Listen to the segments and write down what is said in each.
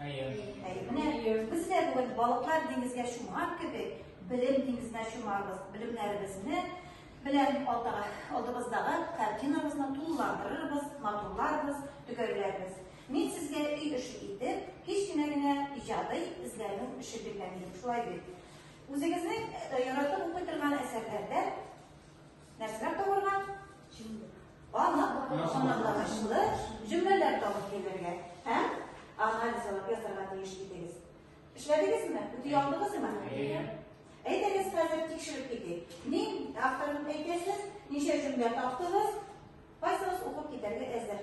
Әйе. Әйе, менә без дә бүген балыклар диңгезгә чумган кебек, белем диңгезенә чумарбыз. Белемнәребезне белән алдыбыздагы картинабызны тулыландырырбыз, матурларбыз, төгәрләрбез. Мин сезгә өй эше итеп, кечкенә генә иҗади эзләнү эше биргән идем. Шулай бит. Үзегезнең яратып укый торган әсәрләрдә Нәрсәләр табырга? Анлык, анлыклы җөмләләр табып килергә һәм анализ алып язарга тиеш идегез. Эшләдегезме? Үти алдыгызмы? Әйдәгез, хәзер тикшереп китик. Ни авторын әйтәсез, ничә җөмлә таптыгыз, кайсыгыз укып китәргә әзер?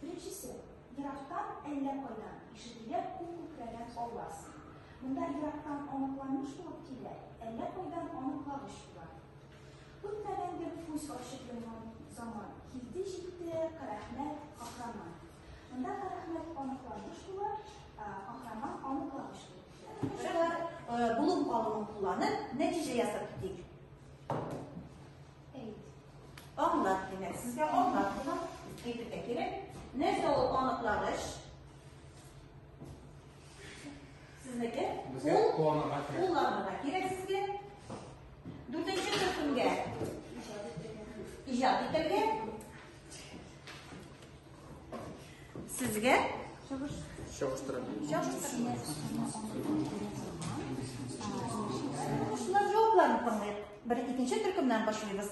Беренчесе, ерактан әллә кайдан ишетелә күк күкрәгән аваз. Монда ерактан аныкланыш булып килә, әллә кайдан аныклавыч була. Күтмәгән бер күз ачып йомган заман. Килде җитте Карәхмәт каһраман. Монда Карәхмәт аныкланыш була, каһраман аныклавыч булып килә. Булып алуын кулланып, нәтиҗә ясап китик. Анлар димәк, сезгә анлар була, әйтергә кирәк. Нәрсә ул аныклагыч? Сезнеке? Безгә кулланырга кирәк. Кулланырга кирәк сезгә. Дүртенче төркемгә. Иҗат итәргә. Сезгә? Чагыштырам. Чагыштырам. Шулар җавапларын тыңлыйк. Бер икенче төркемнән башлыйбыз.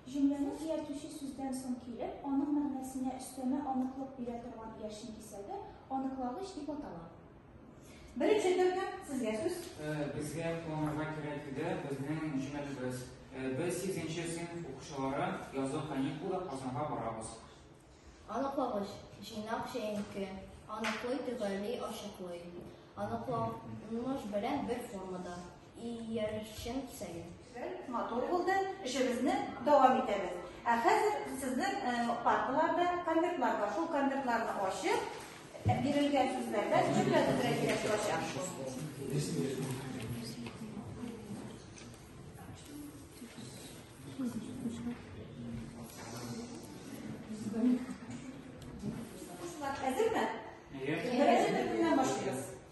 Җөмләне ияртүче сүздән соң килеп, аның мәгънәсенә өстәмә аныклык бирә торган иярчен кисәге аныклавыч дип атала. Беренче төркем сезгә сүз. Безгә планарга кирәк иде безнең җүнәлешебез. Без 8нче сыйныф укучылары язгы каникулда Казанга барабыз. Аныклагыч, җыйнак җәенке, аныклый, төгәлли, ачыклый. Аныкланыш белән бер формада. Иярчен сәлим. Матур булды. Эшебезне дәвам итәбез. Ә хәзер сезнең э, парталарда конвертлар бар. Шул конвертларны ачып, э, бирелгән сүзләрдән җөмлә төзергә кирәк булачак.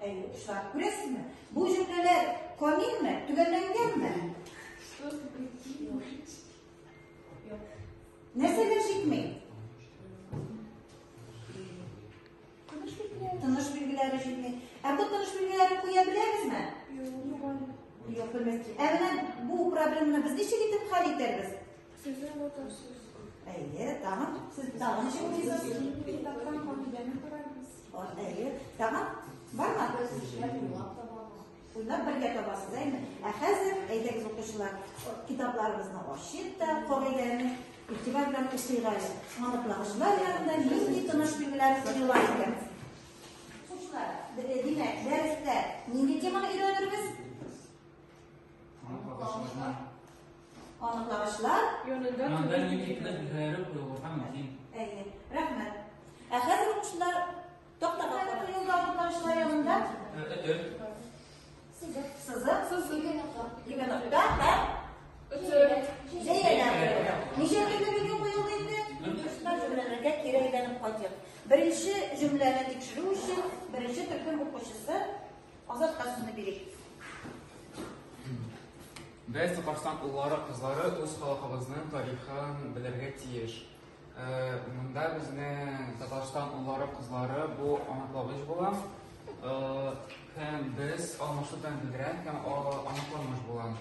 Әйе, шулар. Күрәсезме? Бу җөмләләр камилме? Төгәлләнгәнме? Нәрсәгә җитми? Тыныш билгеләре. Тыныш билгеләре җитми. Ә бу тыныш билгеләре куя беләбезме? Юк. Юк, белмәс. Ә менә бу проблеманы без ничек итеп хәл итәрбез? Сезнең бу ташсыз. Әйе, тагын сез тагын ничек уйлыйсыз? Китаптан кагыйдәне карарбыз. Әйе, тагын бармы? Уйлап бергә табасыз, әйме? Ә хәзер әйдәгез укучылар, китапларыбызны ачыйк та, кагыйдәне игътибар белән укыйк әле. Аныклагычлар ягында нинди тыныш билгеләр куела икән? Укучылар, димәк, дәрестә нинди теманы өйрәнербез? Аныклагычлар. Янында юнитны бәреп куюы һәм мөһим. Әйе, рәхмәт. Ә хәзер укучылар тактага карап юлда аныклагычлар янында. Өтер. Сызык. Сызык. Сызык. Ике нокта һәм өтер. Зәйәләр. Ничә көнлек видео куелды инде? Кышта җөмләләргә кире әйләнеп кайтыйк. Беренче җөмләне тикшерү өчен беренче төркем укучысы Азат касымны бирик. Без Татарстан уллары, кызлары үз халкыбызның тарихын белергә тиеш. Э, Монда безнең Татарстан уллары, кызлары бу аныклагыч була. Э, Һәм без алмашудан бигрәк һәм аныкламыш була.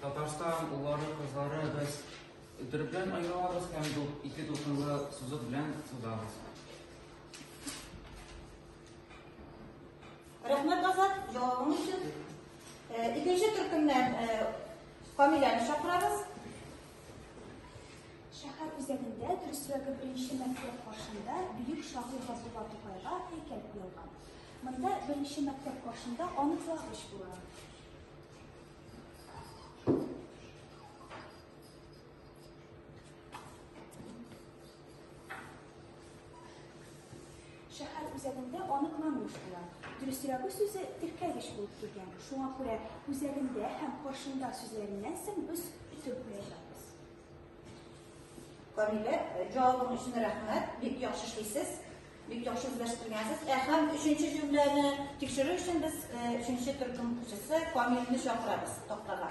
Татарстан уллары, кызлары без төрөплән айналабыз һәм ике дулкынлы сузып белән сузабыз. Рәхмәт, Азат, җавабың өчен. Э, икенче төркемнән э, Камиләне чакырабыз. Шәһәр үзәгендә, дөресрәге беренче мәктәп каршында бөек шагыйрь Габдулла Тукайга һәйкәл куелган. Монда беренче мәктәп каршында аныклагыч була. Шәһәр үзәгендә аныкланмыш була. Дөресрәге сүзе теркәгеч булып килгән. Шуңа күрә үзәгендә һәм каршында сүзләреннән соң без өтеп куячакбыз. Камилә, җавабың өчен рәхмәт. Бик яхшы эшлисез. Бик яхшы үзләштермәсез. Ә һәм өченче җөмләне тикшерү өчен без өченче төркем кешесе Камилне чакырабыз тактага.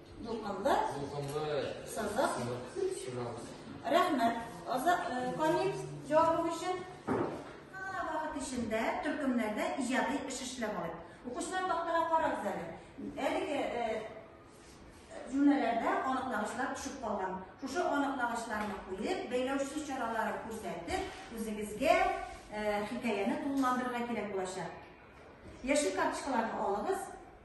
Дулкынлы. Дулкынлы. Сызык. Сызык. Рәхмәт. Аза э, Камил җавабы өчен вакыт эчендә төркемнәрдә иҗади эш эшләп алыйк. Укучылар тактага карагыз әле. Әлеге э, җөмләләрдә аныклагычлар төшеп калган. Шушы аныклагычларны куеп, бәйләүче чаралары күрсәтеп, үзегезгә э, хикәяне тулыландырырга кирәк булачак. Яшел карточкаларны алыгыз.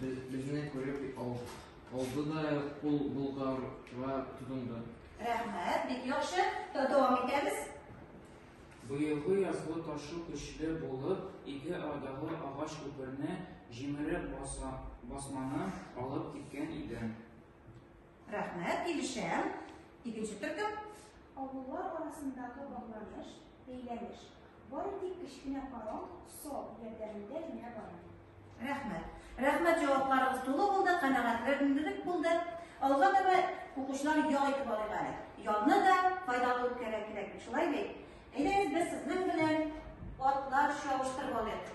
Без, безне күреп алды да кул болгарга тотынды. Рәхмәт, бик яхшы. Дәвам итәбез. Быелгы язгы ташу көчле булып, ике арадагы агач күперне җимереп баса, басманы алып киткән иде. Рәхмәт, килешәм. Икенче төркем. Авыллар арасындагы багланыш, бәйләнеш. Бары тик кечкенә паром, сол ярдәмендә генә бара. Рәхмәт. Рәхмәт җавапларыгыз тулы булды, канәгатьләндереп булды. Алга таба укучылар ял итеп алыйк әле. Ялны да файдалы үткәрә кирәк бит, шулай бит? Әйдәгез без сезнең белән атлар чабыштырып алыйк.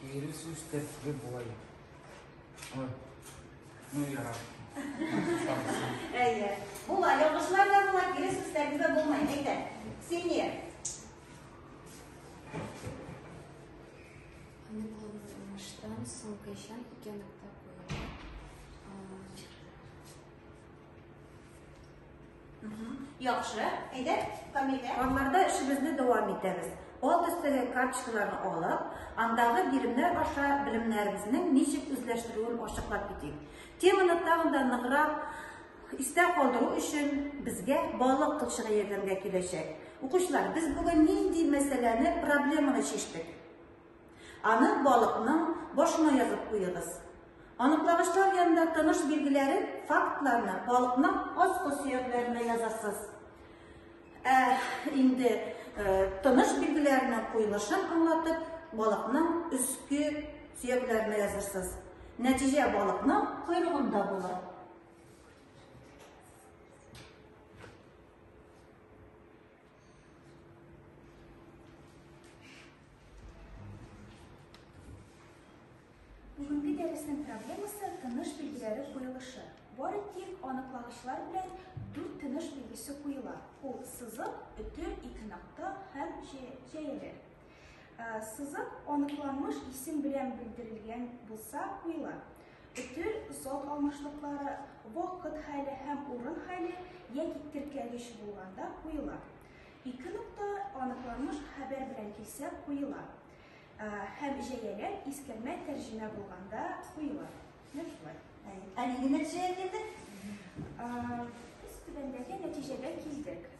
Кире сүз тәртибе болай. Ой. Ну, яра. Әйе. Була, ялгышлар да була, кире сүз тәртибе булмай. Әйтә. Сине. Аныкланыштан соң кайчан икән Яхшы, әйдә, Камилә. Аннарда эшебезне дәвам итәбез. Алт өстәге карточкаларны алып, андагы биремнәр аша белемнәребезнең ничек үзләштерүен ачыклап китик. Теманы тагын да ныграк истә калдыру өчен безгә балык кылчыгы ярдәмгә киләчәк. Укучылар, без бүген нинди мәсьәләне, проблеманы чиштек? Аны балыкның башына язып куегыз. Аныклагычлар янында таныш билгеләре, фактларны балыкның аскы сөякләренә язасыз. Ә инде э, таныш билгеләренең куелышын аңлатып, балыкның өске сөякләренә язырсыз. Нәтиҗә балыкның койрыгында була. Бүгенге дәресенең проблемасы тыныш билгеләре куелышы. Бары тик аныклагычлар белән дүрт тыныш билгесе куела. Ул сызык, өтер, ике нокта һәм җәяләр. Сызык аныкланмыш исем белән белдерелгән булса куела. Өтер, зат алмашлыклары, вакыт хәле һәм урын хәле яки теркәлеш булганда куела. Ике нокта аныкланмыш хәбәр белән килсә куела. Һәм җәяләр искәрмә тәрҗемә булганда куела. Менә шулай. Әлеге нәтиҗәгә килдек. Без түбәндәге нәтиҗәгә килдек.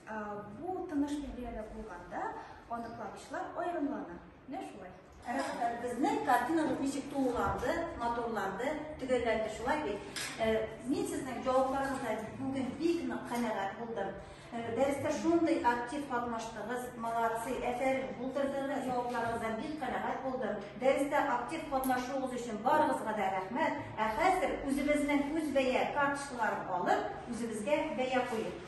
Бу тыныш билгеләрдә булганда аныклавычлар аерымлана. Менә шулай. Рәхмәт. Безнең картинабыз ничек тулыланды, матурланды, төгәлләнде шулай бит. Мин сезнең җавапларыгыздан бүген бик нык канәгать булдым. Дәрестә шундый актив катнаштыгыз, молодцы, әфәрин, булдырдыгыз, җавапларыгыздан бик канәгать булдым. Дәрестә актив катнашуыгыз өчен барыгызга да рәхмәт. Ә хәзер үзебезнең үз бәя карточкаларын алып, үзебезгә бәя куеп.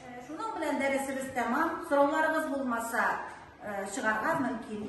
Э, шуның белән дәресебез тәмам. Сорауларыгыз булмаса, э, чыгарга мөмкин.